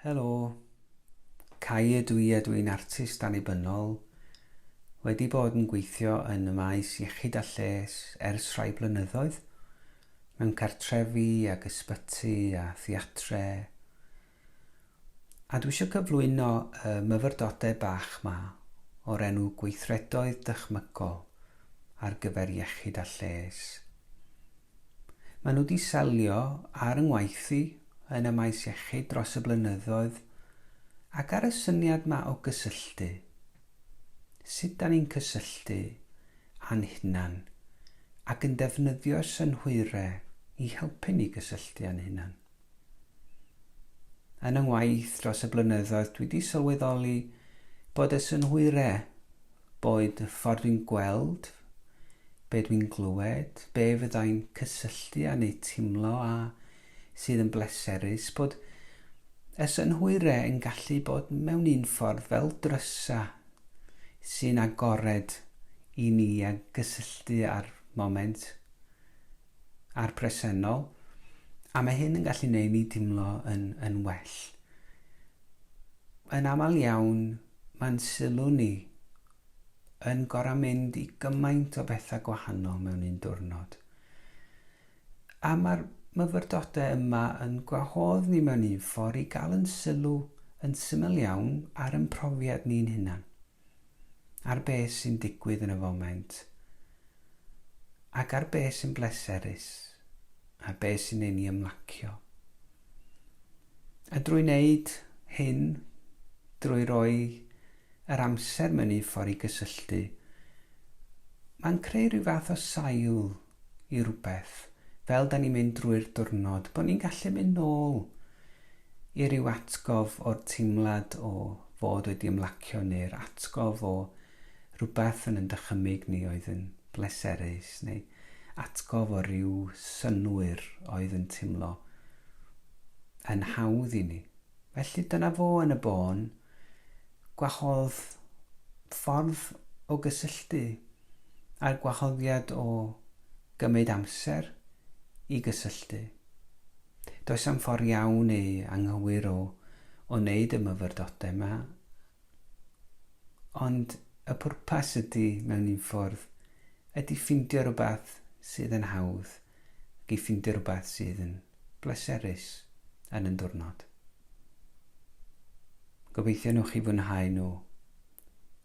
Helo. Cai ydw i a dw i'n artist annibynnol. Wedi bod yn gweithio yn y maes iechyd a lles ers rhai blynyddoedd, mewn cartrefi ac ysbyty a theatre. A dwi eisiau cyflwyno y myfyrdodau bach 'ma o'r enw Gweithredoedd Dychmygol ar gyfer Iechyd a Lles. Maen nhw wedi selio ar y ngwaith i yn y maes iechyd dros y blynyddoedd ac ar y syniad ma o gysylltu. Sut da ni'n cysylltu a'n hunan ac yn defnyddio'r synhwyre i helpu ni gysylltu a'n hunan. Yn yng ngwaith dros y blynyddoedd dwi di sylweddoli bod y synhwyre, boed y ffordd dwi'n gweld, be dwi'n glywed, be fyddai'n cysylltu â neu timlo a sydd yn bleserus, bod y synhwyre yn gallu bod mewn un ffordd fel drysa sy'n agored i ni a gysylltu â'r moment. a'r presennol, a mae hyn yn gallu neud ni dimlo yn, yn well. Yn aml iawn, mae'n sylw ni yn gorau mynd i gymaint o bethau gwahanol mewn un diwrnod. A mae'r myfyrdodau yma yn gwahodd ni mewn un ffordd i gael yn sylw yn syml iawn ar ymprofiad ni'n hunan. ar beth sy'n digwydd yn y foment ac ar beth sy'n bleserus a beth sy'n ein i ymlacio. A drwy wneud hyn, drwy roi yr amser mewn un ffordd i gysylltu, mae'n creu rhyw fath o sail i rywbeth fel 'da ni'n mynd drwy'r diwrnod, bod ni'n gallu mynd nôl i ryw atgof o'r teimlad o fod wedi ymlacio neu'r atgof o rywbeth yn yn dychymyg ni oedd yn bleserus neu atgof o ryw synnwyr oedd yn teimlo yn hawdd i ni. Felly dyna fo yn y bôn, gwahodd ffordd o gysylltu a'r gwahoddiad o gymryd amser i gysylltu. Does am ffordd iawn neu anghywir o o wneud y myfyrdodau yma, ond y pwrpas ydy, mewn un ffordd, ydy ffindio rhywbeth sydd yn hawdd ac i ffindio rhywbeth sydd yn bleserus yn yn diwrnod. Gobeithio newch chi fwynhau nhw